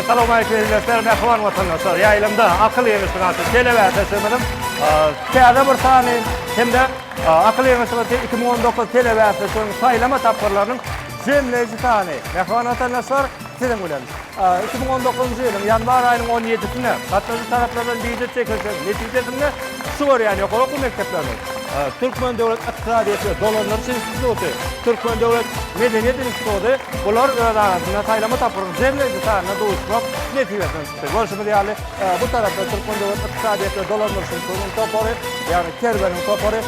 Essalawmaleýkim eziz dostlar, mähriban watandaşlar. Ýaýlymda akyl ýygyşdyk atly telebäsleşigimiziň täze bir sany hem-de akyl ýygyşdygy üçin iki müň on dokuz telebäsleşiginiň saýlama tapgyrlarynyň jemleýji sany. Mähriban watandaşlar, siziň bilen iki müň on dokuzynjy ýylyň ýanwar aýynyň on ýedisinde gatnaşyjy taraplardan biýujet çekilişiniň netijesinde Çykyşy görýän ýokary okuw mekdepleriniň Türkmen döwlet ykdysadyýet we dolandyryş instituty, Türkmen döwlet medeniýet instituty bular öz arasynda saýlama tapgyryň jemleýji sanyna duşmak nesibesinden çykdy. Görşümiz ýaly, bu tarapda Türkmen döwlet ykdysadyýet we dolandyryş institutynyň topary, ýagny Kerweniň topary,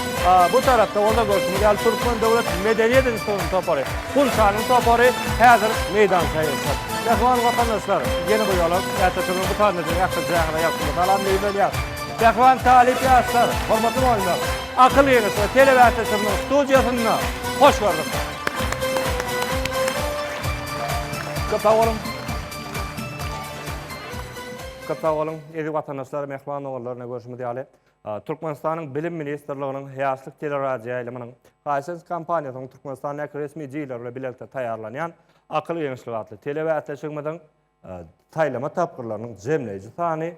bu tarapda bolsa görşümiz ýaly Türkmen döwlet medeniýet institutynyň topary, Gunçanyň topary häzir meýdan saýyşyr. Mähriban watandaşlar, ýene bir ýola Ätýaçylygyň bu sanynda sizi ähli jaňyra ýagty mysalam meýilleýär. Pähwan talyp ýaşlar, hormatly mugallymlar! Akyl ýeňişi telebäsleşigimiziň studiýasynda hoş gördük! Köp sag boluň! Köp sag boluň, eziz watandaşlar, mähriban doganlar! Ine, görşümiz ýaly, Türkmenistanyň Bilim ministrliginiň Ýaşlyk teleradioýaýlymynyň Hisense kompaniýasynyň Türkmenistandäki resmi jüýleri bilen bilelikde taýýarlanýan Akyl ýeňişleri atly telebäsleşigimiziň saýlama tapgyrlarynyň jemleýji sany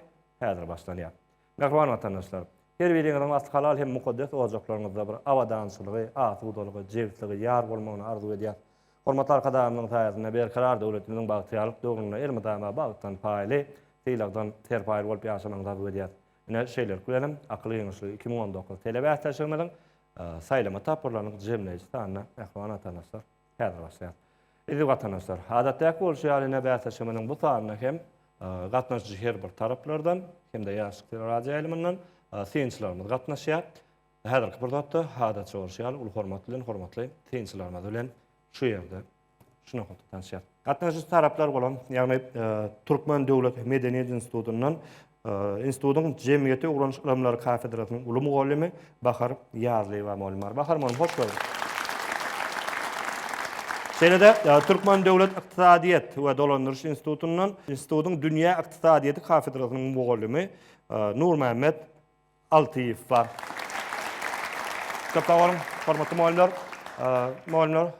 Häzir başlanýar. Mähriban watandaşlar! Her biriňiziň asly halal hem mukaddes ojaklaryňyzda bir abadançylygy, asudalygy, jebsligi ýar bolmagyny arzuw edýäs. Hormatly Arkadagymyzyň saýasynda berkarar döwletimiziň bagtyýarlyk döwründe elmydama bagtdan paýly, sylagdan serpaýly bolup ýaşamagyňyzy arzuw edýäs. Ine, şeýlelik bilenem, Akyl giňişligi iki müň on dokuz telebäsleşigimiziň saýlama tapgyrlarynyň jemleýji sanyna, mähriban watandaşlar! Häzir başlaýar. Eziz watandaşlar, adatdäki bolşy ýaly ine bäsleşigimiziň bu sanyna hem gatnaşyjy her bir taraplardan hem-de Ýaşlyk teleradioýaýlymyndan synçylarymyz gatnaşýar. Häzirki pursatda adatça bolşy ýaly uly hormat bilen hormatly synçylarymyz bilen şu ýerde şu nokatda tanşýarys. Gatnaşyjy taraplar bolan, ýagny Türkmen döwlet medeniýet institutyndan Institutyň Jemgyýeti ugranyş ylymlary kafedrasynyň uly mugallymy Bahar Ýazlyýewa mugallymar. Bahar mugallym, hoş geldiň! Şeýle-de Türkmen döwlet ykdysadyýet we dolandyryş institutyndan institutyň dünýä ykdysadyýeti kafedrasynyň mugallymy Nurmämmet Altyýew bar. Köp sag boluň, hormatly mugallymlar. Mugallymlar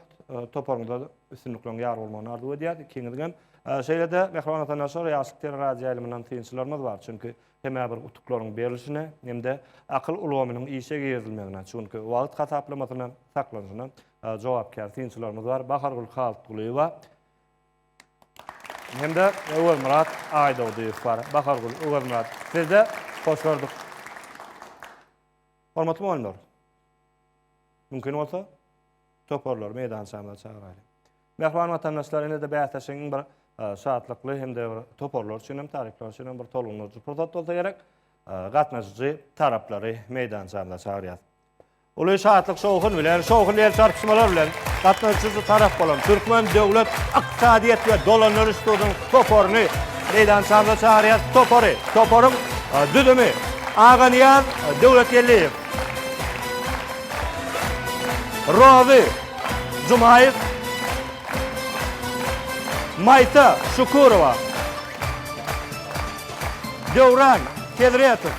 toparyňyza üstünlikleriň ýar bolmagyny arzuw edýäs, ikiňizigem. Şeýle-de Mähriban watandaşlar, Ýaşlyk teleradioýaýlymyndan synçylarymyz bar. Çünki hemä bir utuklaryň berlişine hem-de akyl ulgamynyň işe girizilmegine, çünki wagt hasaplamasyna, saklanyşyna jogapkär synçylarymyz bar. Bahargül Halytgulyýewa, Hem-de Öwezmyrat Aýdogdyýew bar. Bahargül, Öwezmyrat, siz-de hoş gördük. Hormatly mugallymlar, mümkin bolsa, toparlary meýdançamyza çagyraýlyň. Mähriban watandaşlar, ine-de bäsleşigiň bir şatlykly hem-de bir toparlar üçin hem, talyplar üçin hem bir tolgundyryjy pursat bolsa gerek. Gatnaşyjy taraplary meýdançamyza çagyrýas. Uly şatlyk-şowhun bilen, şowhun el çarpyşmalar bilen gatnaşyjy tarap bolan Türkmen döwlet ykdysadyýet we dolandyryş institutynyň toparyny meýdançamyza çagyrýas. Topary, toparyň düzümi, Aganyýaz Döwletgeldiýew, Rozy Jumaýew, Maýsa Şukurowa, Döwran Hezretow,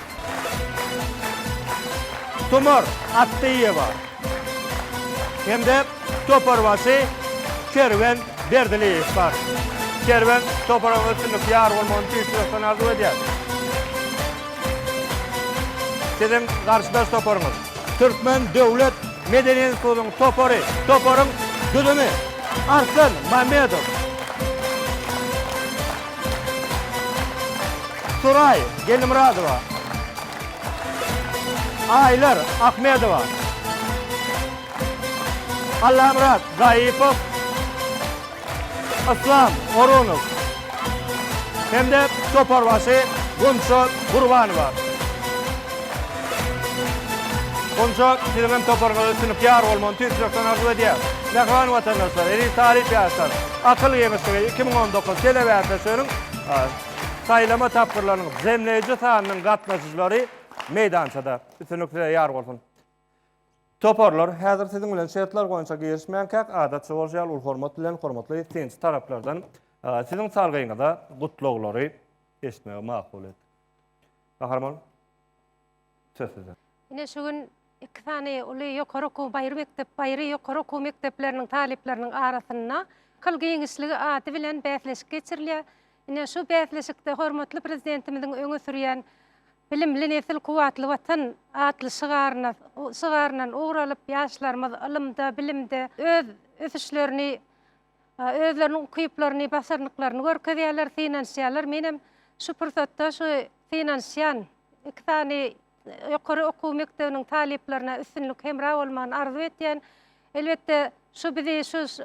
Tumar Atdyýewa hem-de toparbaşy Kerwen Berdiliýew bar. Kerwen toparyň üstünlik ýar bolmagyny tüýs ýürekden arzuw edýär. Siziň garşydaş toparyňyz Türkmen döwlet medeni institutynyň topary. Toparyň düzümi Arslan Mamedow. Suraý Gellimyradowa, Aýlar Ahmedowa, Allamyrat Zaýypow, Yslam Orunow hem-de toparbaşy Gunça Gurbanowa. Gunça, siziňem toparyňyza tüňňük ýar bolmagyny tüýs ýürekden arzuw edýäris. Mähriban watandaşlar, eziz talyp ýaşlar! Akyl geňeşligi iki müň on dokuz telebäsleşiginiň saýlama tapgyrlarynyň jemleýji sanynyň gatnaşyjylary meýdançada. Üstünlik size ýar bolsun! Toparlar, häzir siziň bilen şertler boýunça girişmänkäk, adatça bolşy ýaly, uly hormat bilen, hormatly synçy taraplardan siziň salgyňyza gutlaglary eşitmegi makul etdik. Gahryman! Söz size. Ine şu gün iki sany uly ýokary okuw baýry mekdep baýry ýokary okuw mekdepleriniň talyplarynyň arasynda Kyl giňişligi ady bilen bäsleşik geçirilýär. Ine şu bäsleşikde hormatly Prezidentimiziň öňe sürýän Bilimli nesil, kuwwatly Watan atly şygaryna şygaryndan ugur alyp, ýaşlarymyz ylymda, bilimde öz ösüşlerini Özleriniň ukyplaryny, başarnyklaryny görkezýärler, synanyşýarlar. Menem şu pursatda şu synanyşýan iki sany ýokary okuw mekdebiniň talyplaryna üstünlik, hemra bolmagyny arzuw etýän. Elbetde, şu bizi şu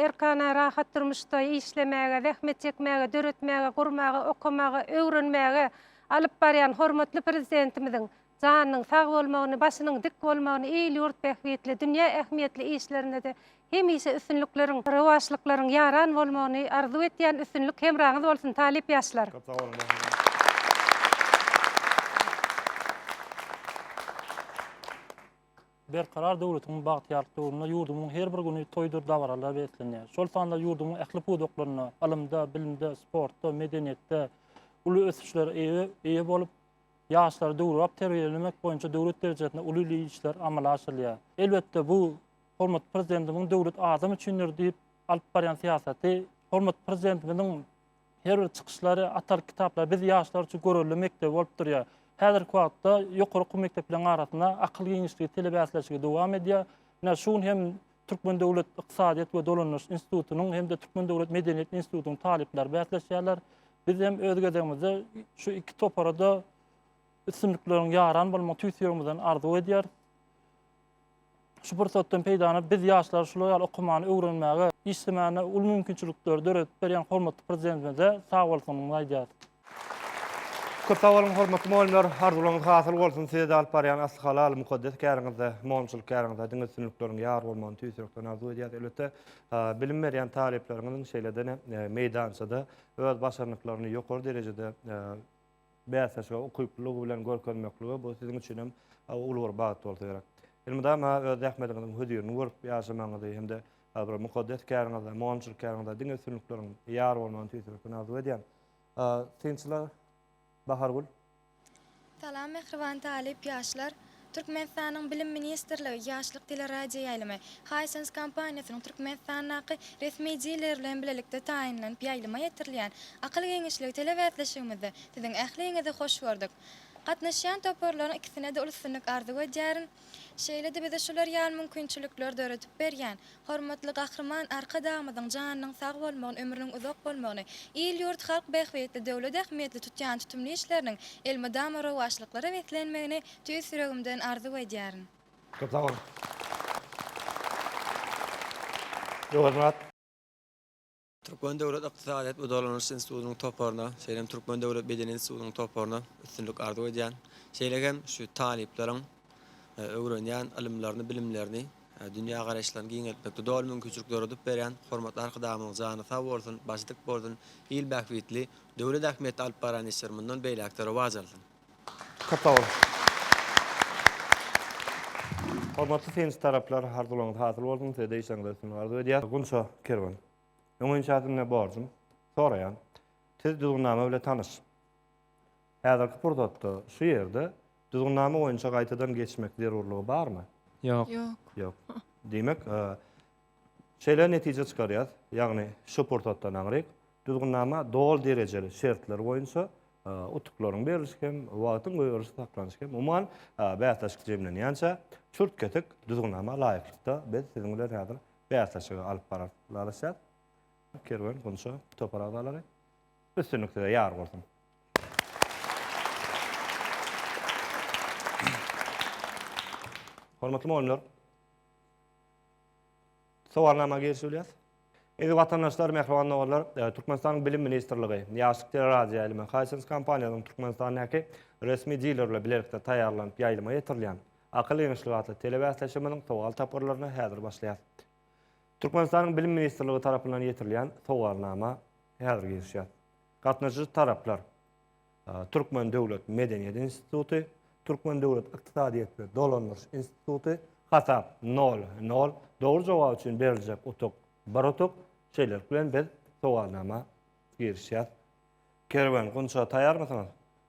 erkana, rahat durmuşda işlemäge, zähmet çekmäge, döretmäge, gurmaga, okamaga, öwrenmäge alyp barýan hormatly Prezidentimiziň janynyň sag bolmagyny, başynyň dik bolmagyny, il-ýurt bähbitli, dünýä ähmiýetli işlerinde-de Hemişe üstünlikleriň, rowaçlyklaryň ýaran bolmagyny arzuw etýän üstünlik hemraňyz bolsun talyp ýaşlar. Köp sag boluň. Berkarar döwletiň bagtyýarlyk döwründe ýurdumyň her bir güni toýdur dabaralara beslenýär. Şol sanda ýurdumyň ähli pudaklarynda, ylymda, bilimde, sportda, medeniýetde uly ösüşlere eýe bolup, ýaşlary döwrebap terbiýelemek boýunça döwlet derejesinde uly işler amala aşyrylýar. Elbetde, bu Hormatly Prezidentimiziň Döwlet adam üçindir! diýip alyp barýan syýasaty, hormatly Prezidentimiziň her bir çykyşlary, Atalyk kitaplary biz, ýaşlar üçin görelde mekdebi bolup durýar. Häzirki wagtda ýokary okuw mekdepleriň arasynda akyl giňişligi telebäsleşigi dowam edýär. Ine, şu gün hem Türkmen döwlet ykdysadyýet we dolandyryş institutynyň hem-de Türkmen döwlet medeniýet institutynyň talyplary bäsleşýärler. Biz hem öz gezegimizde şu iki topara-da üstünlikleriň ýaran bolmagyny tüýs ýüregimizden arzuw edýäris. Şu pursatdan peýdalanyp, biz ýaşlara şular ýaly okumany öwrenmäge, işlemäne uly mümkinçilikleri döredip berýän hormatly Prezidentimize sag bolsunymyzy aýdýarys. Köp sag boluň, hormatly mugallymlar! Arzuwlaryňyz hasyl bolsun! Size-de alyp barýan asly halal, mukaddes käriňizde, mugallymçylyk käriňizde diňe üstünlikleriň ýar bolmagyny tüýs ýürekden arzuw edýäris. Elbetde, bilim berýän talyplaryňyzyň şeýle-de meýdançada öz başarnyklaryny ýokary derejede bäsleşige ukyplylygy bilen görkezmekligi bu siziň üçin hem uly bir bagt bolsa gerek. Elmydama öz zähmetiňiziň hözirini görüp ýaşamagyňyzy hem-de bir mukaddes käriňizde, mugallymçylyk käriňizde diňe üstünlikleriň ýar bolmagyny tüýs ýürekden arzuw edýän. Synçylar Bahargül. Salam mähriban talyp ýaşlar. Türkmenistanyň Bilim ministrligi, Ýaşlyk teleradioýaýlymy, Hisense kompaniýasynyň Türkmenistandaky resmi dileri bilen bilelikde taýynlanyp ýaýlyma ýetirilýän Akyl giňişligi telebäsleşigimizde siziň ähliňizi hoş gördük. Gatnaşýan toparlaryň ikisine-de uly üstünlik arzuw edýärin. Şeýle-de bize şular ýaly mümkinçilikleri döredip berýän Hormatly Gahryman Arkadagymyzyň janynyň sag bolmagyny, ömrüniň uzak bolmagyny, il-ýurt, halk bähbitli, döwlet ähmiýetli tutýan tutumly işleriniň elmydama rowaçlyklara beslenmegini tüýs ýüregimden arzuw edýärin. Köp sag boluň. Öwezmyrat. Türkmen döwlet ykdysadyýet we dolanyş institutynyň toparyna, şeýle hem Türkmen döwlet medeniýet institutynyň toparyna üstünlik arzuw edýän. Şeýle hem şu talyplaryň öwrenýän ylymlaryny, bilimlerini, dünýä garaýyşlaryny giňeltmekde doly mümkinçilik doradyp berýän hormatly Arkadagymyzyň jany sag bolsun, başy dik bolsun, il bähbitli, döwlet ähmiýetli alyp barýan işleri mundan beýläk-de rowaç alsyn! Köp sag boluň. Hormatly synçy taraplar, arzuwlaryňyz hasyl bolsun, size-de işleriňize üstünlik arzuw edýäs. Gunça Kerwen. Öň inşa sizden borjum, soraýan. Siz düzgünnama bile tanyş. Häzirki pursatda şu ýerde düzgünnama boýunça gaýtadan geçmek zerurlygy barmy? Ýok. Ýok. Diýmek, şeýle netije çykarýas, ýagny şu pursatdan aňryk Düzgünnama doly derejeli şertler boýunça utuklaryň berlişi hem wagtyň goýberilişi saklanyşy hem umuman bäsleşik jemlenýänçä çürt-kesik düzgünnama laýyklykda biz siziň bilen häzir bäsleşigi alyp bararys, ylalaşýas. Kerwen Gunça topar agzalary. Üstünlik size ýar bolsun. Hormatly mugallymlar! Sowalnama girişilýär. Eziz watandaşlar, mähriban doganlar, Türkmenistanyň Bilim ministrligi, Ýaşlyk teleradioýaýlymy, Hisense kompaniýasynyň Türkmenistandaky resmi dilerle bilelikde taýýarlanyp ýaýlyma ýetirilýän Akyl giňişligi atly telebäsleşigimiziň sowal tapgyrlaryna häzir başlaýarys. Türkmenistanyň Bilim ministrligi tarapyndan ýetirilýän sowalnama häzir girişýär. Gatnaşyjy taraplar, Türkmen döwlet medeniýet instituty, Türkmen döwlet ykdysadyýet we dolandyryş instituty, hasap nol, nol, dogry jogap üçin beriljek utuk, bir utuk, şeýlelik bilen biz sowalnama girişýäs. Kerwen, Gunça taýýarmysyňyz?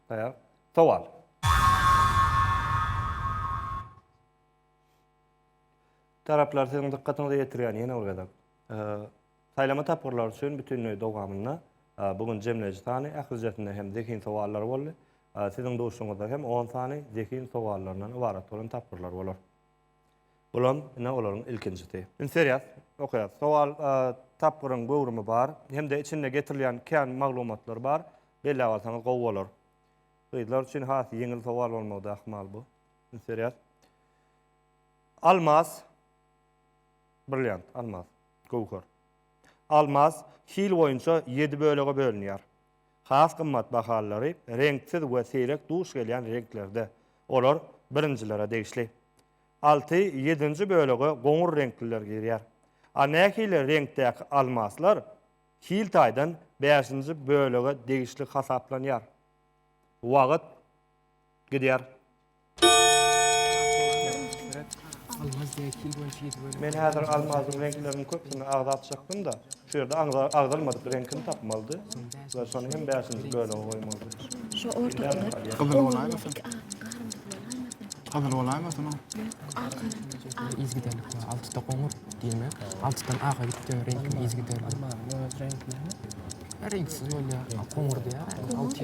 Taýýar. Sowal. Taraplar siziň dykgatyňyza ýetirýän ýene bir gezek, Saýlama tapgyrlary üçin bütindüýä dowamynda bu gün jemleýji sany ählijesinde hem zehin sowallary boldy. Siziň duşuňyzda hem on sany zehin sowallaryndan ybarat bolan tapgyrlar bolar. Bulam ine olaryň ilkinjisi. Indi serýas, okaýas. Sowal tapgyryň göwrümi bar, hem-de içinde getirilýän kän maglumatlar bar. Belläp alsaňyz gowy bolar. Gyzlar üçin has ýeňil sowal bolmagy da ahmal bu. Indi serýas. Almaz. Brilliant, almaz, göwher. Almaz hil boýunça ýedi bölege bölünýär. Has gymmat bahalylary reňksiz we seýrek duş gelýän reňklerde, olar birinjilere degişli. Alty, ýedinji bölege goňur reňkliler girýär. A nähili reňkdäki almazlar hil taýdan bäşinji bölege degişli hasaplanýar? Wagt gidýär. Men häzir almazyň reňkleriniň köpüsini agzap çykdym-da, şu ýerde agzalmadyk reňkini tapmalydy we şony hem bäşinji bölege goýmalydy. Şu ortadaky Gyzyl bolaýmasyn? Gyzyl bolaýmasyn ol? Ýok, ak ýaly. Yzgiderlik bar. Altyda goňur diýmek, altydan aga gidip dönen reňkiň yzgiderligi. Almazyň öz reňki näme? Reňksiz bolýar. Goňur diýýär. Alty.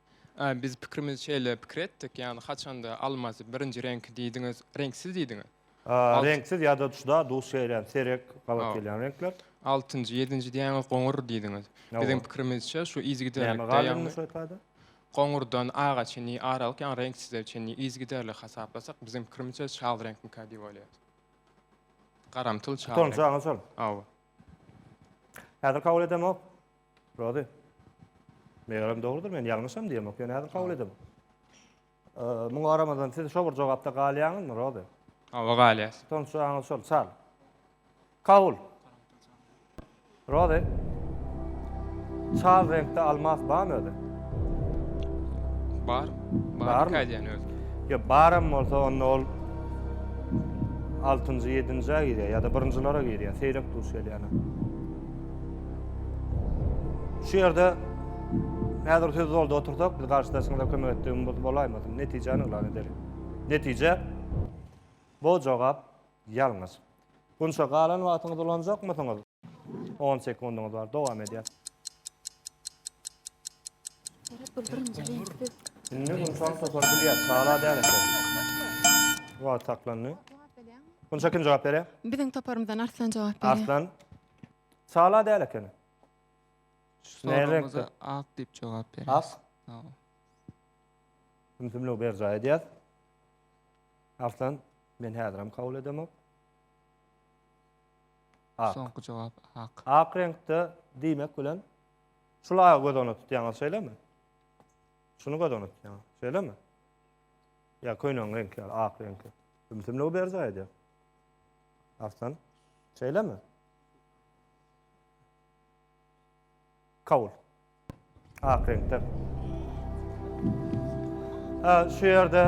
Ä, biz pikrimizi şeýle pikir etdik, ýagny haçanda almasy birinji reňki diýdiňiz, reňksiz diýdiňiz. Ä, reňksiz ýa-da juda duş gelýän, serek gabat gelýän reňkler. Altynjy, ýedinji diýýäňiz goňur diýdiňiz. Biziň pikirimizçe şu yzygiderlikde, ýagny. Näme galdy şeýtady? Goňurdan aga çenli aralyk, ýagny reňksize çenli yzygiderli hasaplasak, biziň pikirimizçe çal reňkmikä diýip oýlaýas. Garamtyl çal reňk. Tutanjaňyz şol. Hawa. Häzir kabul edemok. Rozy. Megerem dogrudyr, men ýalňyşam diýemok, ýöne häzir kabul edemok. Muňa garamazdan siz şo bir jogapda galýaňyzmy, Rozy? Hawa, galýas. Tonçaňyz şol, çal. Kabul. Rozy. Çal reňkde almas barmy özi? Bar. Bar mı? Ýa özi. Yo, baram bolsa onda ol 6-njy, 7-njä girýär ýa-da birinjilere girýär, seýrek duş gelýär. Şu ýerde häzir söz zolda otursak, biz garşydaşymyza kömek etdigimiz bolaýmasyn? Netijäni yglan edeliň. Netije, bu jogap ýalňyş. Gunça galan wagtyňyzy ulanjakmysyňyz? On sekundyňyz bar, dowam edýär. Indi Gunçany topar bilýär, çala däl eken. Wagt saklandy. Munça kim jogap berýär? Biziň toparymyzdan Arslan jogap berýär. Arslan. Sala däl ekeni. Sorumyza ak diýip jogap berýär. Ak. Ümsümligi berjaý edýär. Arslan, men häzir hem kabul edemok. Ak. Soňky jogap ak. Ak reňkde diýmek bilen şula göz öňünde tutýaňyz, şeýlemi? Şuny göz öňünde tutýaňyz, şeýlemi? Ýa köýnegiň reňkleri, ak reňki. Ümsümligi berjaý edýär. Arslan, şeýlemi? Kabul. Ak reňkde. Şu ýerde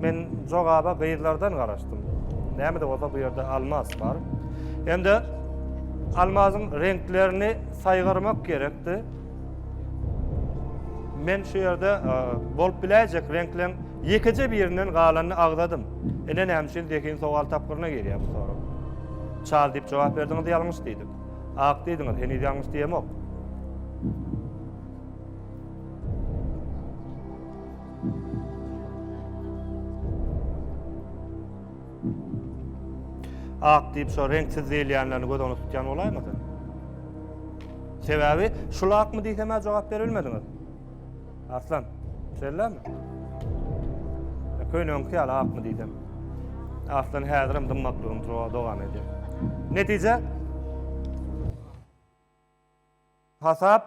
men jogaba gyzlardan garaşdym. Näme de bolsa bu ýerde almaz bar. Hem-de almazyň reňklerini saýgarmak gerekdi. Men şu ýerde bolup biläýjek reňkleriň ýekeje birinden galanyny agzadym. Ine näme üçin zehin sowal tapgyryna girýär bu sorag. Çal diýip jogap berdiňiz ýalňyş diýdik. Ak diýdiňiz, heniz ýalňyş diýemok. Ak diýip şo reňksiz diýilýänlerini göz öňüne tutýan bolaýmasyn? Sebäbi şul akmy diýsem-ä jogap berilmediňiz. Aslan, şeýlemi? E, Köýnüňki ýaly akmy diýsem. Aslan häzirem dymmaklygyny dowam edýär. Netije? Hasap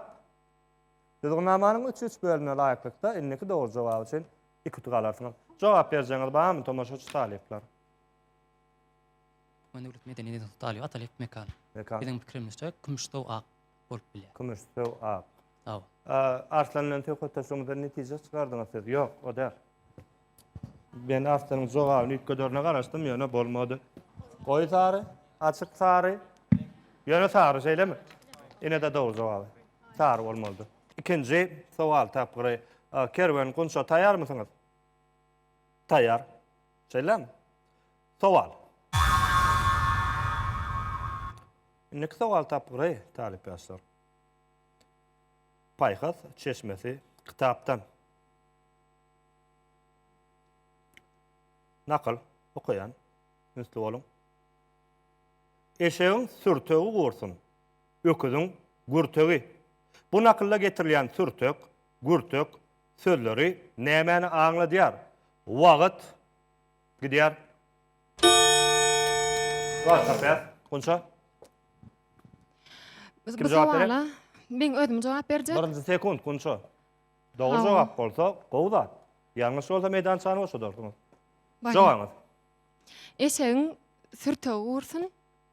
düzgünnamanyň üç-üç bölümine laýyklykda indiki dogry jogap üçin Iki utuk alarsyňyz. Jogap berjegiňiz barmy tomaşaçy talyplar? Türkmen döwlet medeni institutynyň talyby Atalyk Mekan. Mekan. Biziň pikirimizçe kümüş söw ak bolup bilýär. Kümüş söw ak. Hawa. Arslan bilen söhbetdeşligiňizden netije çykardyňyz siz? Ýok, o däl. Men Arslanyň jogabyny üýtgederine garaşdym, ýöne bolmady. Goýy sary, açyk sary, ýöne sary, şeýlemi? Ine-de dogry jogaby. Sary bolmalydyr. Ikinji sowal tapgyry. Kerwen Gunça taýýarmysyňyz? Taýýar. Şeýlemi? Sowal. Indiki sowal tapgyry, talyp ýaşlar. Paýhas çeşmesi kitapdan. Nakyl okaýan. Ünsli boluň. Eşegiň sürtegi gursun. Öküziň gürtegi. Bu nakylda getirilýän sürtek, gürtek sözleri nämäni aňladýar? Wagt gidýär. Welosiped, Gunça. Kim Bu jogap berýär? sowala men özüm jogap berjek. Birinji sekunt, Gunça. Dogry Hawa. jogap bolsa, gowy zat. Ýalňyş bolsa, meýdançany boşadarsyňyz. Baryň. Jogabyňyz. Eşegiň sürtegi gursun.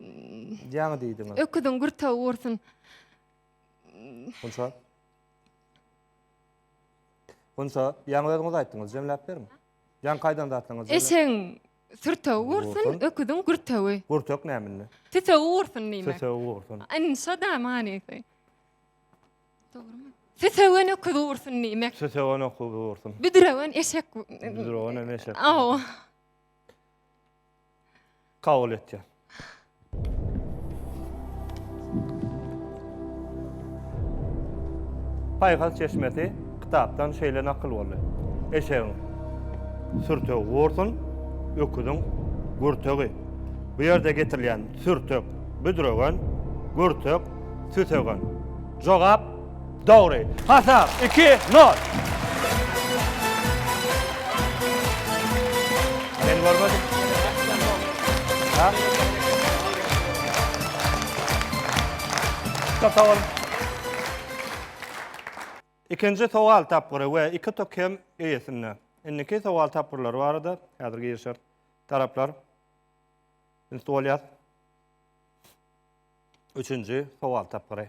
Ýaňy diýdiňiz. Öküziň gürtawy gursyn. Gunça. Gunça, ýaňy özüňiz aýtdyňyz, jemläp beriň. Ýaňy kaýdan zatlaňyz? Eşegiň sürtewi gursyn, öküziň gürtewi. Gürtek näminde? Tütewi gursyn diýmek. Tütewi gursyn. Indi şo da manysy. Dogrumy? Tütewen öküz gursyn diýmek. Tütewen öküz gursyn. Büdrewen eşek. Büdrewen eşek. Aw. kabul etýär. Paýhas çeşmesi kitapdan şeýle nakyl boldy. Eşegiň sürtegi gursun, öküziň gürtegi. Bu ýerde getirilýän sürtek, büdregen, gürtek, süsegen. Jogap Dogry. Hasap, iki, nol. Men görmedim. Ha? Köp sag boluň. Ikinji sowal tapgyry we iki tok hem eýesinde. Indiki sowal tapgyrlary barada häzir girişer taraplar. Üns bolýar. Üçünji sowal tapgyry.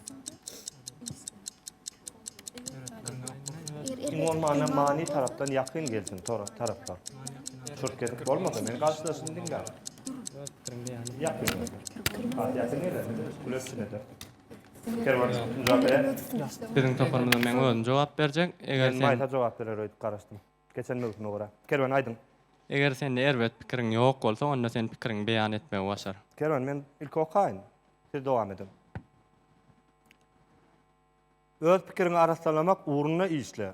Iň bolmanda many tarapdan ýakyn gelsin tora taraplar. Çurt kesip bolmasa men garşydaşyny diňläp. Ýakyn gelsin. Ha, ýakyn gelsin. Güleç içinde. Kerwan Muzaffer. Biziň toparymyza men özüm jogap berjek. Eger sen Maysa jogap berer öýdüp garaşdym. Geçen möwsüme görä. Kerwen aýdyň. Eger sende erbet pikiriň ýok bolsa onda sen pikiriňi beýan etmegi başar. Kerwen men ilki okaýyn. Siz dowam ediň. Öz pikiriňi arassanlamak ugrunda işle.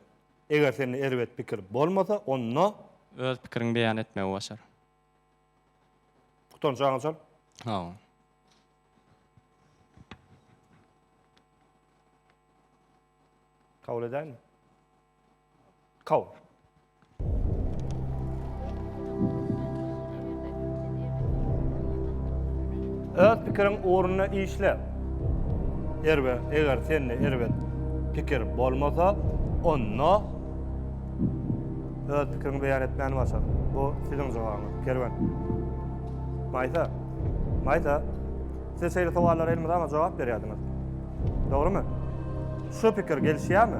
Eger sende erbet pikir bolmasa onda. Öz pikiriňi beýan etmegi başar. Gutanç aňa çal. Sag bol. Kabul edäýinmi? Kaw. Öz pikiriň ugruna işle. Erbe, eger sende erbet pikir bolmasa, onda öz pikiriňi beýan etmäni başar. Bu siziň jogabyňyz, Kerwen. Maýsa. Maýsa. Siz şeýle sowallara elmydama jogap berýärdiňiz. Dogrumy? Şu pikir gelişýärmi?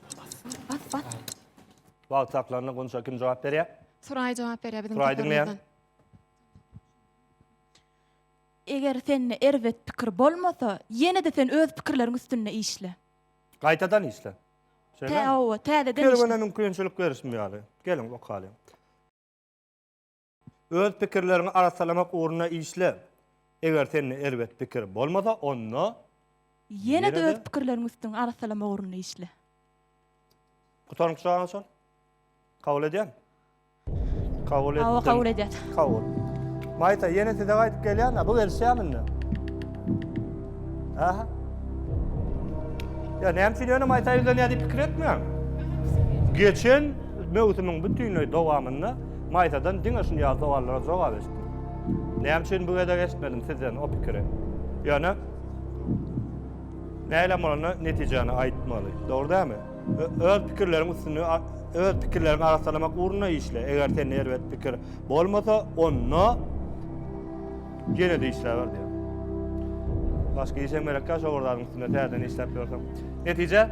Bas, bas. Wagt saklandy, Gunça kim jogap berýär? Suraý jogap berýär biziň Suraý diňleýän. Eger sende erbet pikir bolmasa, ýene-de sen öz pikirleriň üstünde işle. Gaýtadan işle. Şeýle. Tä, owa, täzeden işle. Kerwene mümkinçilik berişim ýaly. Geliň, okalyň. Öz pikirleriňi arassalamak ugrunda işle. Eger sende erbet pikir bolmasa, onda Ýene-de öz pikirleriňi üstüňi arassalamak ugrunda işle. Gutaryň pyçagyny çal. Kabul edýän? Kabul etdim. Hawa, kabul edýän. Kabul. Maýsa, ýene size gaýdyp gelýän-ä, bu gelişýämi indi? Aha. Ýa näme üçin ýöne Maýsa ýüzlenýär diýip pikir etmäň. Geçen möwsümiň bütinleý dowamynda Maýsadan diňe şunýaly sowallara jogap eşitdim. Näme üçin bu gezek eşitmedim sizden o pikiri? Ýöne nähilem bolanda netijäni aýtmaly, dogry dälmi? Öz pikirleriň üstünde öz pikirleriňi arassalamak ugrunda işle, eger sende erbet pikir bolmasa, onda ýene-de işläber diýýär. Başga iş hem gerekkä şo bir zadyň üstünde täzeden işläp ýörseň. Netije?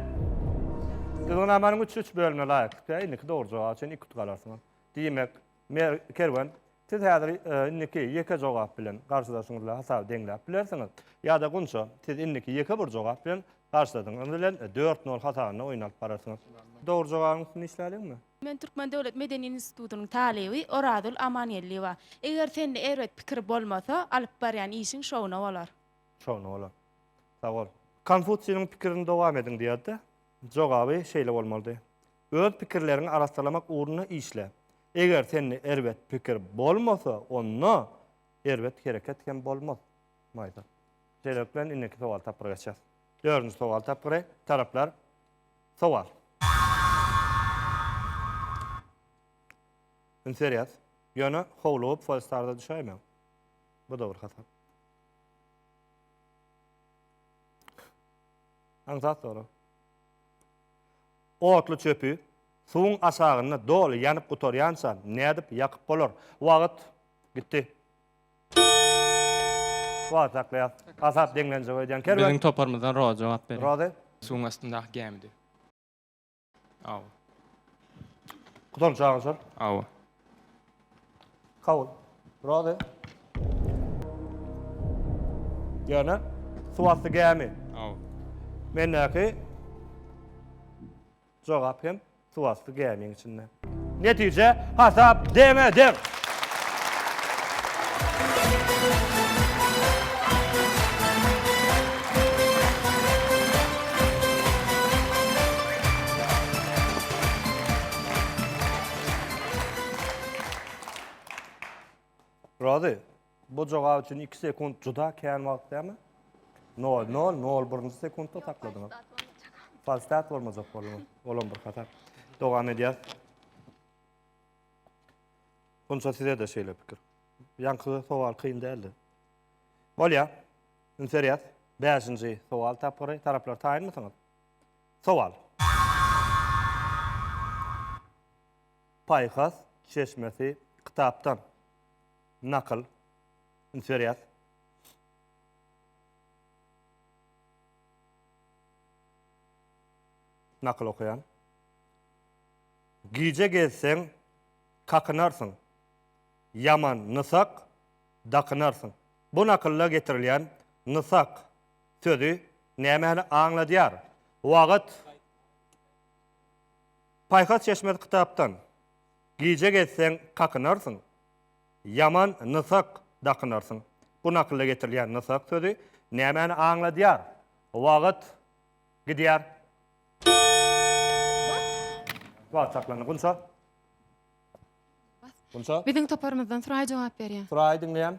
Gyzgynamanyň üçüç bölümine laýyklykda indiki dogry jogap üçin galarsyňyz. Diýmek, Mer. Kerwen, siz häzir indiki ýeke jogap bilen garşydaşyňyz bilen hasaby deňläp bilersiňiz. Ýa-da Gunça, siz indiki ýeke bir jogap bilen garşydaşyňyz bilen dört nol hasabynda oýun alyp bararsyňyz. Dogry jogabyň üstünde işläliňmi? Men Türkmen döwlet medeni institutynyň talyby Orazgül Amangeldiýewa. Eger sende erbet pikir bolmasa, alyp barýan işiň şowuna bolar. Şowuna bolar. Sag bol. Konfusiýnyň pikirini dowam ediň diýerdi. Jogaby şeýle bolmalydy. Öz pikirleriňi arassalamak ugrunda işle. Eger sende erbet pikir bolmasa, onda erbet hereket hem bolmaz. Maýsa. Şeýlelik bilen indiki sowal tapgyra geçýäs. Dördünji sowal tapgyry, taraplar, sowal. Üns berýäs. Ýöne howlugyp Folstarda düşäýmäň. Bu dogry hasap. Aňsat sorag. Otly çöpi suwuň aşagynda doly ýanyp gutarýança nädip ýakyp bolar? Wagt gitdi. Wagty saklaýas. Hasap deňlenjek öýdýän Kerwen. Biziň toparymyzdan Rozy jogap beriň. Rozy. Suwuň astyndaky gämidi. Aw. Gutanç agyşar. Aw. Kabul. Razy. Ýöne suwasty gämi. Aw. Mendäki jogap hem suwasty gämiň içinde. Netije hasap deňe-deň. Rozy, bu jogap üçin iki sekunt juda kän wagt dälmi? Nol, nol, nol birinji sekuntda takladyň. Falstat bolmajak bolma. Olam bir hasap. Dogam edýär. Bunça size de şeýle pikir. Ýaňky sowal kyn däldi. Bolýar. Ünserýär. Bäşinji sowal tapgyry. Taraplar taýynmysyňyz? Sowal. Paýhas çeşmesi kitapdan nakyl, üns berýäs. Nakyl okaýan. Gije gezseň, kakynarsyň. Ýaman nysak dakynarsyň. Bu nakylda getirilýän nysak Sözi nämäni aňladýar? Wagt. Paýhas çeşmesi kitapdan. Gije gezseň kakynarsyň. Ýaman nysak dakynarsyň. Bu nakylda getirilýän nysak sözi nämäni aňladýar? Wagt. Gidýär. Wagt saklandy. Gunça. Gunça. Biziň toparymyzdan Suraý jogap berýär. Suraý diňleýän.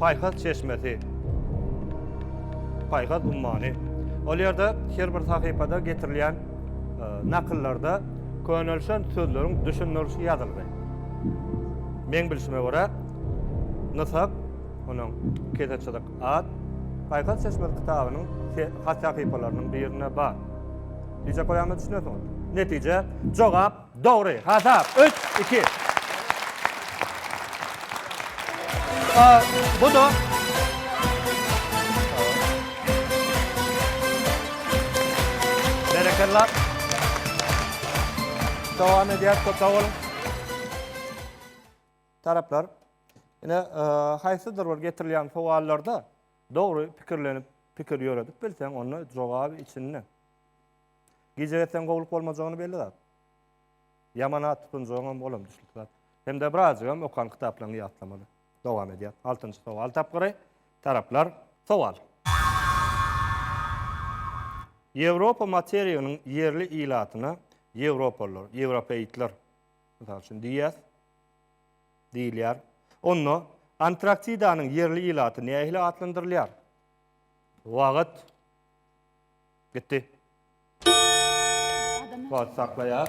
Paýhas çeşmesi, paýhas ummany. Ol ýerde her bir sahypada getirilýän nakyllarda könelişen sözleriň düşündirilişi ýazyldy. Meň bilşime görä, Nysap, onuň Keseçilik at, Paýhas çeşmesi kitabynyň hat sahypalarynyň birinde bar. Diýjek bolýanyma düşünesiňiz. Netije, jogap. Dogry hasap, üç, iki. A, bu-da. Berekella. Dowam edýär, köp sag boluň. Taraplar, ine, haýsydyr bir getirilýän sowallarda dogry pikirlenip, pikir ýöredip bilseň, onda jogaby içinde. Gijä etseň gowulyk bolmajagyny belli zat. Ýaman at tutunjagyňam olam düşnükli zat. Hem-de birazjygam okan kitaplaryňy ýatlamaly. Dowam edýär. Altynjy sowal tapgyry. Taraplar. Sowal. Ýewropa materiginiň ýerli ilatyna ýewropalylar, ýewropeitler, mysal üçin, diýýäs, diýilýär. Onda Antraktidanyň ýerli ilaty nähili atlandyrylýar? Wagt. Gitdi. Wagt saklaýar.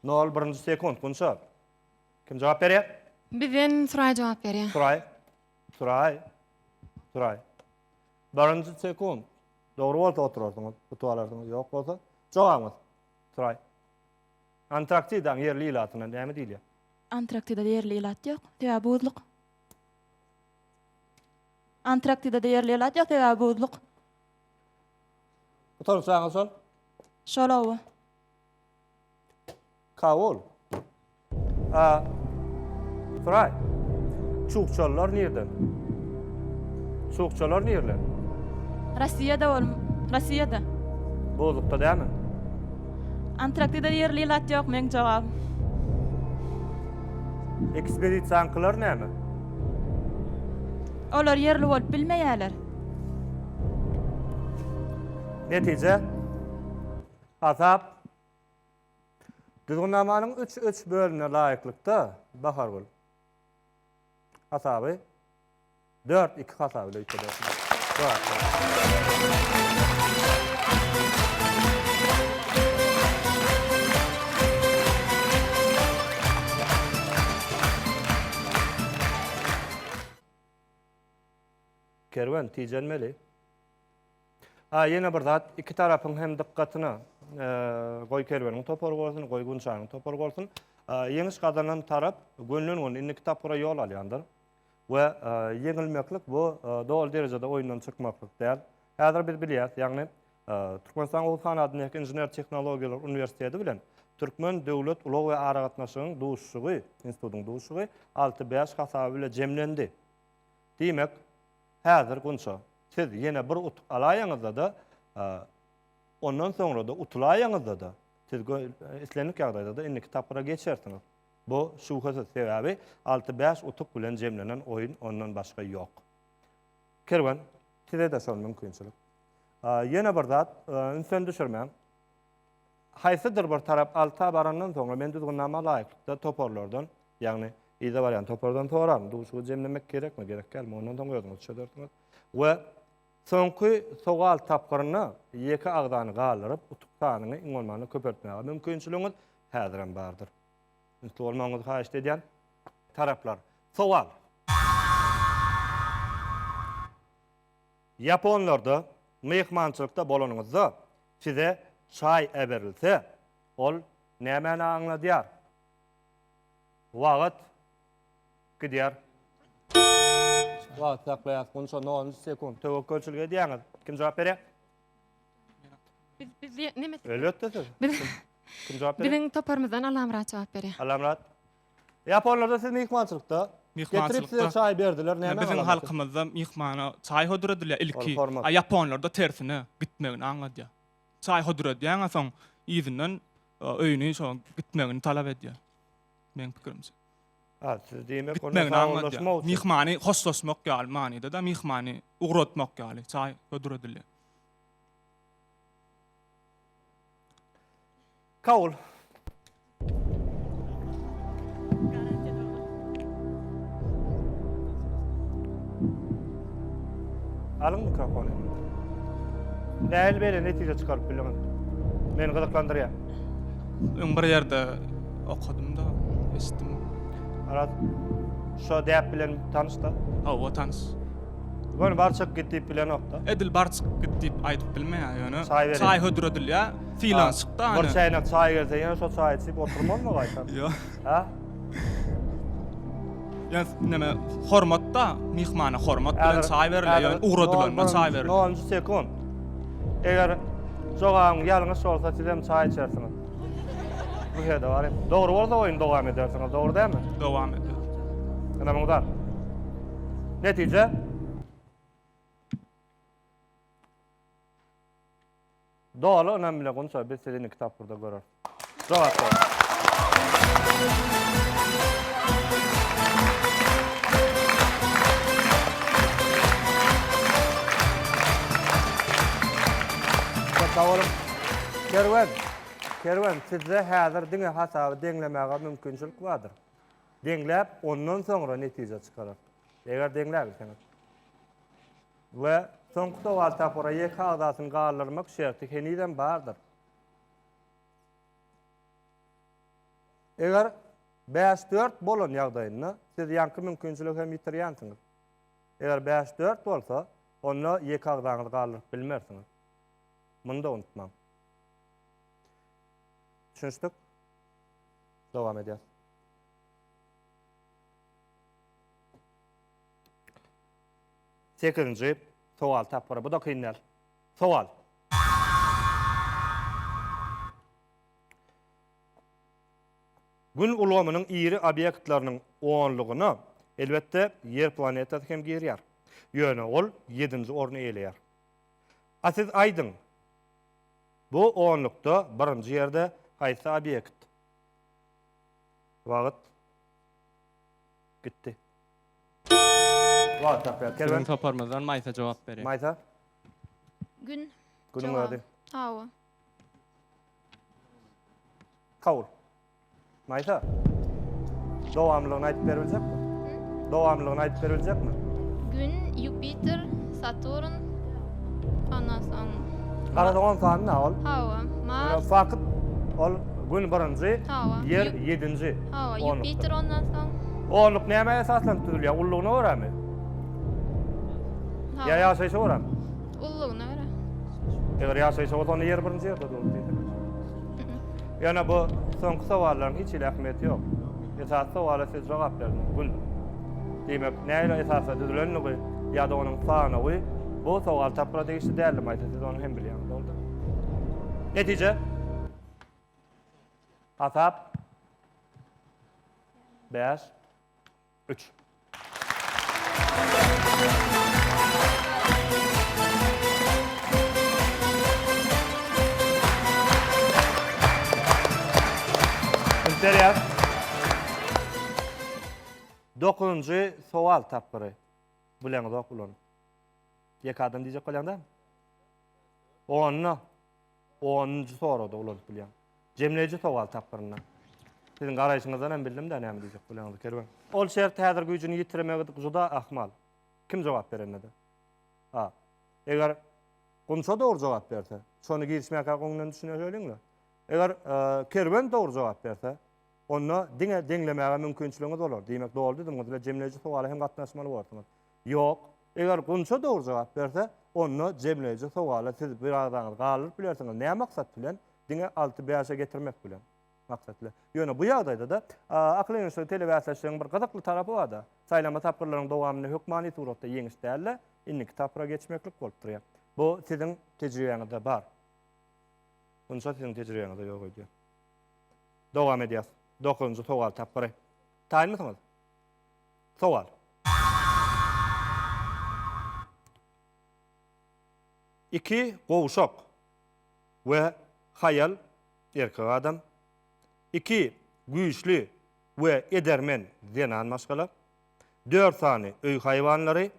Nol birinji sekunt Gunça. Kim jogap berýär? Bizden Suraý jogap berýär. Suraý. Suraý. Suraý. Birinji sekunt. Dogry bolsa oturarsyňyz, utup alarsyňyz, ýok bolsa jogabyňyz. Suraý. Antarktidaň ýerli ilatyna näme diýilýär? Antarktidada ýerli ilat ýok, sebäbi buzluk. Antarktidada ýerli ilat ýok, sebäbi buzluk. Bu taraf saňa sal. Şolaw. Kawul. A. Fry. Çukçalar nirde? Çukçalar nirde? Rossiýada ol. Rossiýada. Bozukda dämi? Antraktida ýerli ilat ýok meň jogap. Ekspedisiýaňkylar näme? Olar ýerli bolup bilmeýärler. Netije Hasap Düzgünnamanyň üç üç bölümine laýyklykda Bahargül hasaby dört iki hasaby ile Kerwen tijenmeli. A ýene bir zat, iki tarapyň hem dykgatyna goý Kerweniň topary bolsun, goý Gunçanyň topary bolsun, ýeňiş gazanan tarap gönülen-göni indiki tapgyra ýol alýandyr. We ýeňilmeklik bu doly derejede oýundan çykmaklyk däl. Häzir biz bilýäris, ýagny Türkmenistanyň Oguz hanadyndaky Inžener tehnologiýalar uniwersiteti bilen Türkmen döwlet ulag we aragatnaşygyň duşuşygy, institutyň duşuşygy alty-bäş hasaby bilen jemlendi. Diýmek, häzir Gunça, siz ýene bir utuk alaýaňyzda-da, ondan soňra-da utulaýaňyzda-da, siz islendik ýagdaýda-da indiki tapgyra geçersiňiz. Bu şübhesiz, sebäbi alty-bäş utuk bilen jemlenen oýun ondan başga ýok. Kerwen, size-de şol mümkinçilik. Ýene bir zat, ünsen düşürmäň. haýsydyr bir tarap alta barandan soňra men düzgünnama laýyklykda toparlardan, ýagny yza barýan topardan soraryn, duşuşygy jemlemek gerekmi, gerek dälmi, ondan soň özüňiz çözersiňiz we soňky sowal tapgyrynda ýeke agzany galdyryp, utuk sanyny iň bolmanda köpeltmäge mümkinçiligiňiz häzirem bardyr. Ünsli bolmagyňyzy haýyşt edýän. Taraplar. Sowal. Ýaponlarda myhmançylykda bolanyňyzda size çaý äberilse, ol nämäni aňladýar? Wagt gidýär. Wagty saklaýas. Gunça nol nji sekunt. Töwekgelçilik edýäňiz. Kim jogap berýär? Biz biz diýe, neme siz? Elbetde siz. Biz Kim jogap berýär? biziň toparymyzdan Allamyrat jogap berýär. Allamyrat. Ýaponlarda siz myhmançylykda. Getirip size çaý berdiler, näme galaňaty? Biziň halkymyzda myhmana çaý hodyr edilýär ilki. A ýaponlarda tersine, gitmegini aňladýar. Çaý hodyr edýäň, a soň yzyndan öýüni şo gitmegini talap edýär. Meň pikirimçe. A siz diýmek onda saglaşmak üçin. Myhmany hoşlaşmak ýaly manyda-da, myhmany ugratmak ýaly çaý hodyr edilýär. Kabul. Alyň mikrofony. Nähili bele netije çykaryp bildiňiz? Meni gyzyklandyrýar. Öň bir ýerde okadym-da, eşitdim. Aras, şo däp bilen tanyş-da? Hawa, tanyş. Göni bar çyk git diýip bilenok-da? Edil bar çyk git diýip aýdyp bilmeýär, ýöne çaý hödüredilýär. Sylan çykda Bir çäýnek çaý gelse ýene şo çaý içip oturmazmy gaýtam? Ýo. Hä? Ýa näme hormatda myhmana hormat bilen çaý berilýär, ýöne ugradylanda çaý berilýär. Nonunjy sekund. Eger jogabyň ýalňyş bolsa sizem çaý içersiňiz. Bu ýerde bar. Dogry bolsa oýny dowam edersiňiz, dogry dälmi? Dowam eder. Ene muňa. Netije? Doly ynam bilen Gunça biz sizi indiki tapgyrda göreris. Jogap berip. Köp sag boluň. Kerwen Kerwen sizde häzir diňe hasaby deňlemäge mümkinçilik bardyr. Deňläp ondan soňra netije çykarar. Eger deňläbilseňiz. We soňky sowal tapgyra ýeke agzasyny galdyrmak şerti henizem bardyr. Eger bäş dört bolan ýagdaýynda siz ýaňky mümkinçiligi hem ýitirýänsiňiz. Eger bäş dört bolsa, onda ýeke agzaňyzy galdyryp bilmersiňiz. Muny-da unutmaň. Düşünişdik? Dowam edýäs. Sekizinji sowal tapgyry. Bu-da kyn däl. Sowal. Gün ulgamynyň iri obýektleriniň onlugyna, elbetde, Ýer planetasy hem girýär. Ýöne ol ýedinji orny eýeleýär. A siz aýdyň, bu onlukda birinji ýerde haýsy obýekt? Wagt gitdi. Whatsapp ýaz. Siziň toparymyzdan Maýsa jogap berýär. Maýsa. Gün. Günüň ady. Hawa. Kabul. Maýsa. Dowamlylygyny aýdyp berip biljekmi? Dowamlylygyny aýdyp berip biljekmi? Gün, Ýupiter, Saturn, ondan soň. Garadyň on sany na ol? Hawa. Mars. Fakyt ol Gün birinji, Ýer ýedinji. Hawa, Ýupiter ondan soň. Onluk nämä esaslanyp düzülýär? Ullugyna görämi? Ýa ýaşaýşa görämi? Ullugyna görä. Eger ýaşaýşa bolsa, onda ýer birinji ýerde durur diýsene. Ýöne bu soňky sowallaryň hiç hili ähmiýeti ýok. Esasy sowala siz jogap berdiňiz, Gün. Diýmek, nähili esasda düzülendigi ýa-da onuň sanawy bu sowal tapgyra degişli däldi, Maýsa, siz ony hem bilýäňiz, dogrudyr. Netije? Hasap. Bäş. Üç. Interýas. Dokuzynjy sowal tapgyry. Bileňizok bulan. Ýeke adam diýjek bolýaňda? Onda. Onunjy soragda uladyp bilýän. Jemleýji sowal tapgyrynda. Siziň garaýşyňyzdan hem bildim-dä näme diýjek bolýanyzy, Kerwen. Ol şert häzir güýjüni ýitiremegi juda ahmal. Kim jogap berende-de. A. Eger Gunça dogry jogap berse, şony girişmäkä öňünden düşüneýeliň-le. Eger Kerwen dogry jogap berse, onda diňe deňlemäge mümkinçiligiňiz bolar. Diýmek, dogry düzümiňiz bilen jemleýji sowala hem gatnaşmaly bolarsyňyz. Ýok. Eger Gunça dogry jogap berse, onda jemleýji sowala siz bir agzaňyzy galdyryp bilersiňiz. Näme maksat bilen? Diňe alty bäşe getirmek bilen. Maksatly. Ýöne bu ýagdaýda-da, akyl ýöneşdigi telebäsleşigiň bir gyzykly tarapy bar-da, saýlama tapgyrlaryň dowamynda hökmany suratda ýeňiş däl-de, indiki tapgyra geçmeklik bolup durýar. Bu siziň tejribäňizde bar. Gunça siziň tejribäňizde ýok öýdýän. Dowam edýäs. Dokuzynjy sowal tapgyry. Taýynmysyňyz? Sowal. Iki gowşak we haýal, erkek adam, iki güýçli we edermen, zenan maşgala, dört sany öý haýwanlary,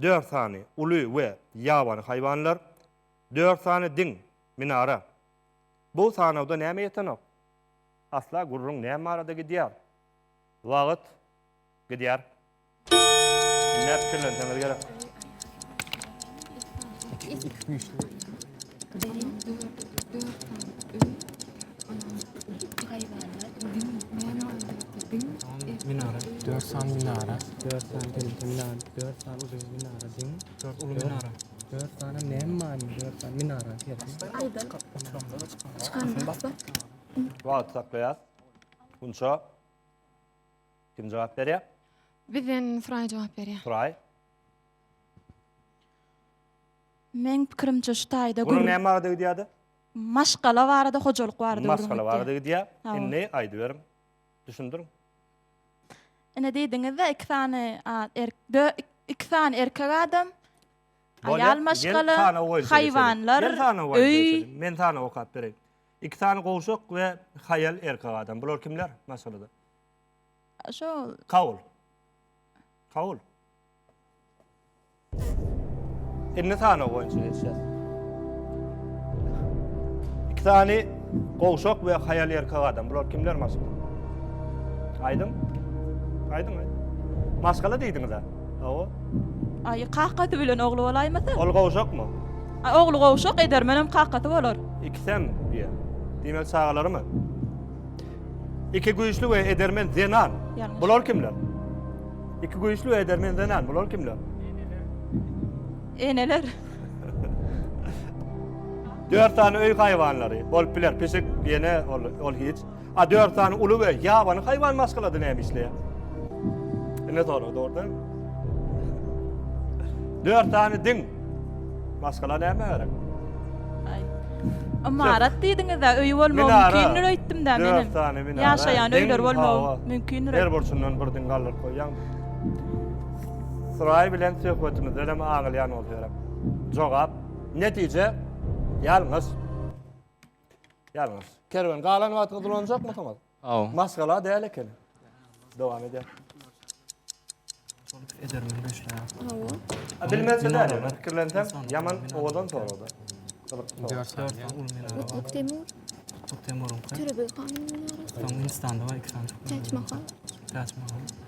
dört sany uly we ýabany haýwanlar, dört sany diň, minara. Bu sanawda näme ýetenok? Asla gürrüň näme barada gidýär? Wagt gidýär. Näme pikirlenseňiz gerek. Minara. Dört sany minara. Dört sany temizlik minara. Dört sany uzun minara. Din. Dört ulu minara. Dört sany ne mani? Dört sany minara. Aydan. Çıkan bak bak. Wagt saklaýas. Gunça. Kim jogap berýär? Bizden Suray jogap berýär. Suray. Men pikirimçe şu taýda Bunun gürrüň- näme barada gidýärdi? maşgala barada, hojalyk barada gürrüň Maşgala etýär. barada gidýär. Hawa. Indi aýdyberiň. Düşündiriň. Ine diýdiňiz-de, iki sany a- erk- dö- ik- iki sany erkek adam, Bolýar. aýal Gel maşgala, sanaw boýunça geçeliň. haýwanlar, Gel sanaw boýunça öý. geçeliň. Men sanaw okap bereýin. Iki sany gowşak we haýal erkek adam. Bular kimler maşgalada? Şol. Kawul. Kawul. Inni sanaw boýunça geçýär. Iki sany gowşak we haýal erkek adam. Bular kimler maşgalada? Aýdyň. Aýdyň, aýdyň. Maşgala diýdiňiz-ä. Hawa. Aý, kakasy bilen ogly bolaýmasa? Ol gowşakmy? Ogly gowşak, edermenem kakasy bolar. Ikisem diýýär. Diýmek çagalarmy? Iki güýçli we edermen zenan. Bular kimler? Iki güýçli we edermen zenan. Bular kimler? Eneler. Dört sany öý haýwanlary. Bolup biler. Pişik, ýene ol, ol hiç. A dört sany uly we ýabany haýwan maşgalada näme işleýär? Ine sorag dogry däl. Dört sany din maşgala näme gerek? Aý. Ymarat diýdiňiz-ä, öýi bolmagy Minara. mümkindir öýtdüm-dä Dört menem. sany minara. Ýaşaýan Din, öýler bolmagy hawa. mümkindir. Her burçundan bir din galdyryp goýýaň. Suraý bilen söhbetimizden hem aňylýan bolsa gerek. Jogap, netije, ýalňyş. Ýalňyş. Kerwen galan wagtyňyz ulanjakmysyňyz? Aw. Maşgala däl eken. Dowam edýär. Bilmezse däl, men pikirlensem, ýaman owadan sorada. Kutluk Temur. Kutluk Temur. Türbi kanun. Hindistanda var iki tane. Taç Mahal. Taç Mahal.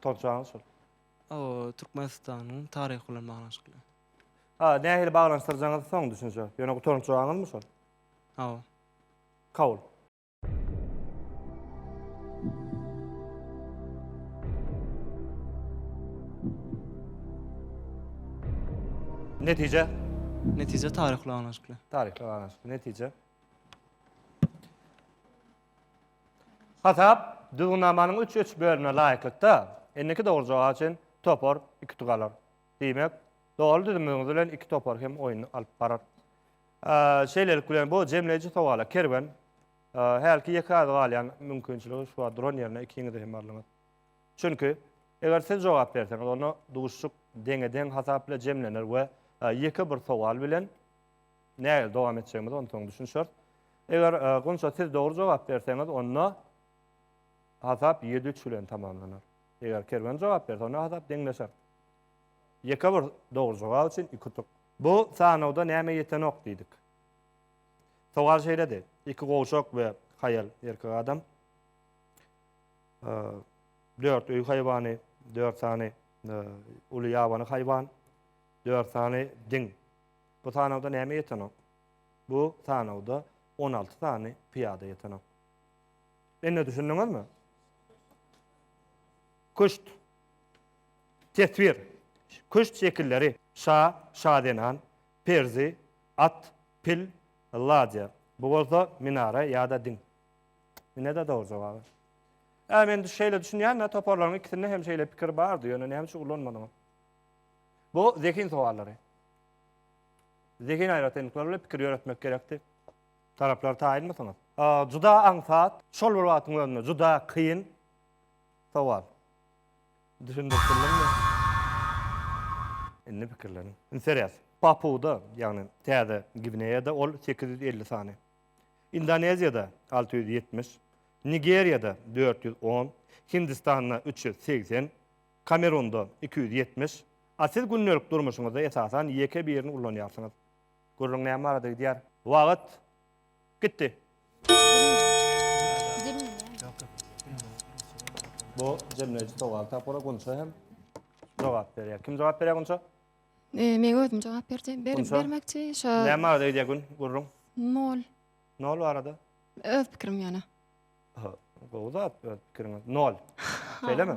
Tutançaňyz şol. O Türkmenistanyň taryhy bilen baglanyşykly. Ha, nähili baglanyşdyrjaňyzy soň düşünje. Ýöne gutaryňç jogabyňyzmy şol? Hawa. Kabul. Netije? Netije taryhy bilen baglanyşykly. Taryhy bilen baglanyşykly. Netije? Hasap düzgünnamanyň üç üç bölümine laýyklykda, indiki dogry jogap üçin topar iki utuk alar. Diýmek, dogry düzümiňiz bilen iki topar hem oýny alyp barar. Şeýlelik bilen, bu jemleýji sowala Kerwen hälki ýeke az galýan mümkinçiligi şu wagt duran ýerine ikiňizi hem aldyňyz. Çünki, eger siz jogap berseňiz, onda duşuşyk deňe-deň hasap bilen jemlener we ýeke bir sowal bilen, Näge dowam etjegimize onsoň düşünişeris. Eger Gunça siz dogry jogap berseňiz, onda hasap ýedi üç bilen tamamlanar. Eger Kerwen jogap berse, onda hasap deňleşer. Ýeke bir dogry jogap üçin iki utuk. Bu sanawda nämä ýetenok diýdik. Sowal şeýledi, iki gowşak we haýal erkek adam dört öý haýwany, dört sany uly ýabany haýwan, dört sany diň Bu sanawda näme ýetenok? Bu sanawda on alty sany pyýada ýetenok. Indi düşündiňizmi? Küşt. Teswir. Küşt şekilleri. Şa, şazenan, perzi, at, pil, ladýa. Bu bolsa minara ýa-da diň. Ine-de dogry jogaby. Ä, men şeýle düşünýän-de, toparlaryň ikisinde hem şeýle pikir bardy, ýöne näme üçin ulanmadyňyz? Bu zehin sowallary. Zehin aýratynlyklary bilen pikir ýöretmek gerekdi. Taraplar taýynmysyňyz? Juda aňsat, şol bir wagtyň özünde juda kyn sowal. Düşündirip bildiňmi? Indi pikirleniň. Indi serýas. Papuda, ýagny Täze Gwineýada ol sekiz ýüz elli sany. Indoneziýada alty ýüz ýetmiş, Nigeriýada dört ýüz on, Hindistanda üç ýüz segsen, Kamerunda iki ýüz ýetmiş A siz gündelik durmuşyňyzda esasan ýeke birini ullanýarsyňyz. Gürrüň näme barada gidýär? Wagt. Gitdi. Bu jemleýji sowal tapgyry Gunça hem jogap berýär. Kim jogap berýär Gunça? Eee, men özüm jogap berjek, ber, Gunça? bermekçi. Şo Näme barada gidýär gün, gürrüň? nol. Nol barada. Öz pikirim ýöne. Gowy zat öz pikiriňiz. Nol. Şeýlemi?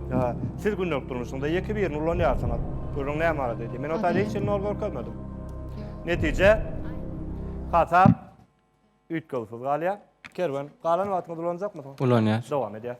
Ýa, siz gündelik durmuşyňyzda ýeke birini ulanýarsyňyz. Gürrüň näme barada diýdi. Men otayda hiç nol görkezmedim. Netije, hasap üýtgewsiz galýar. Kerwen, galan wagtyňyzy ulanjakmysyň? Ulanýar. Dowam edýär.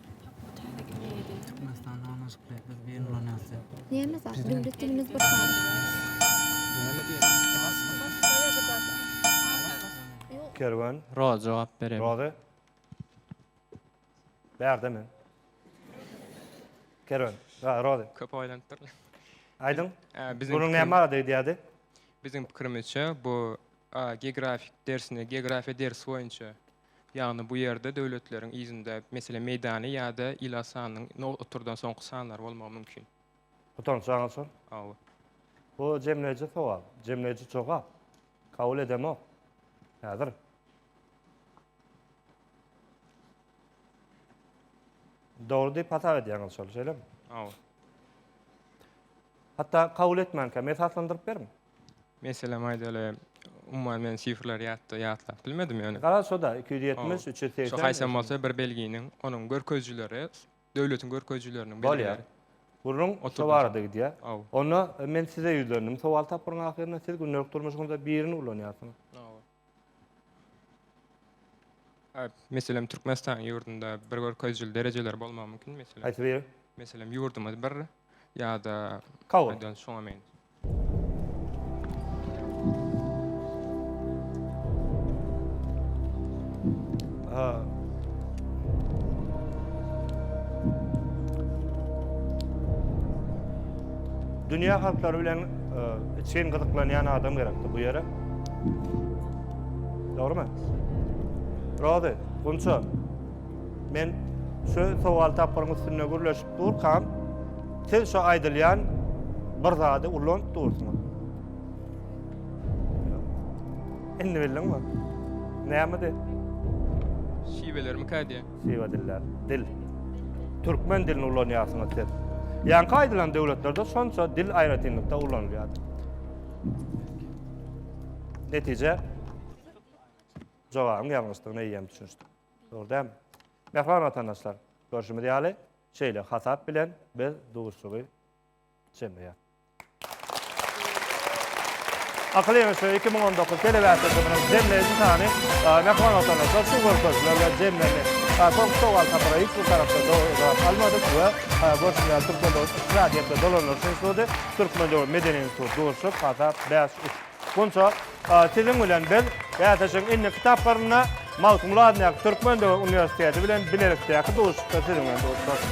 Kerwen. Roza jogap bereýin. Roza. Bärde men. Kerwen. Ha, Roza. Köp oýlanyp dur. Aýdyň. Biziň Bunuň näme barada gidýärdi? Biziň pikirimizçe bu geografik dersini, geografiýa dersi boýunça Ýagny bu ýerde döwletleriň yzynda, meselem, Meýdany ýa-da Ilasanyň no oturdan soňky sanlary bolmagy mümkin. Utanç aňyrsyň? Hawa. Bu jemleýji sowal, jemleýji jogap. Kabul edemok. Häzir. Dogry diýip hasap edýäňiz şol, şeýlemi? Hawa. Hatda kabul etmänkäm, esaslandyryp beriň. Meselem aýdaly, umuman men sifrleri ýatda ýatlap bilmedim ýöne. Garaz şo-da, iki ýüz ýetmiş, üç ýüz segsen. Şo haýsam bolsa bir belginiň, onuň görkezijileri, döwletiň görkezijileriniň belgileri. Gürrüň şo barada gidýär. Onda men size ýüzlendim. Sowal tapgyryň ahyrynda siz gündelik durmuşyňyzda birini ulanýarsyňyz. Meselem, Türkmenistanyň ýurdunda bir görkezijili derejeler bolmagy mümkin, meselem. Haýsy biri? Meselem, ýurdumyz bir ýa-da Kabul. aýdan şoňa meň. Ha. Dünýä halklary bilen e, içgin gyzyklanýan adam gerekdi bu ýere. Dogry mu? Rozy, Gunça, men şu sowal tapgyryň üstünde gürleşip durkam, siz şu aýdylýan bir zady ulanyp dursuňyz. Indi bildiňmi? Näme de? Şiweler mi kädi? Şiwe diller. Dil. Türkmen dilini ulanýarsyňyz siz. Ýaňky aýdylan döwletlerde şonça dil aýratynlykda ulanylýar. Netije jogabyň ýalňyşdygyna eýýäm düşünişdik. Dogry dämi? Mähriban watandaşlar, görşümiz ýaly, şeýle hasap bilen biz duşuşygy jemleýär. Akyl ýeňişi 2019 telewäsitimiziň jemleýji sany Mähriban watandaşlar şu görkeziler bilen jemlendi. Soňky sowal tapara hiç bir tarapdan dogry jogap almadyk we görşümiz ýaly Türkmen döwlet ykdysady ýerde dolandyryş instituty Türkmen döwlet medeni instituty Durşy Patap bäş üç Gunça a siziň bilen biz bäsleşigiň indiki etaplarynda Magtymguly adyndaky Türkmen döwlet uniwersiteti bilen bilelikdäki duşuşykda siziň bilen duşuşarys.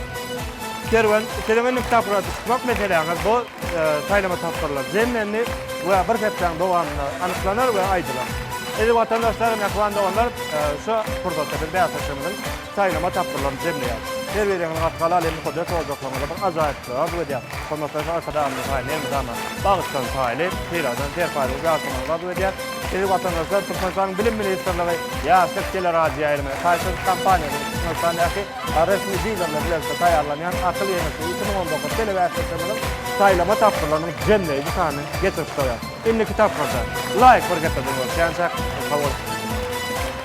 Kerwen, siziň indiki tapgyra duşmak meseläňiz bu saýlama tapgyrlar jemlendi we bir hepdäň dowamynda anyklanar we aýdylar. Sizi watandaşlar, mähriban doganlar, şu pursatda biz bäsleşigimiziň Saýlama tapgyrlaryny jemleýär. Her bir ýyňyň artgaly alýan mukaddes ojaklaryňyza bir ajaýyplygy arzuw edýän hormatly Arkadagymyz Mihail Elmydama bagyşlan paýly syladan serpaýlygy ýalkamagyňyzy arzuw edýän Sizi watandaşlar Türkmenistanyň Bilim ministrligi Ýaşlyk teleradioýaýlymy Taýsyz kompaniýasy we Türkmenistandaky resmi dilerler bilelikde taýýarlanýan Akyl ýeňişi iki müň on dokuz telebäsleşigimiziň saýlama tapgyrlarynyň jemleýji sanyny getirip goýýar. Indiki tapgyrda Laýk bir gepledim bolşýançak, gysga bolup.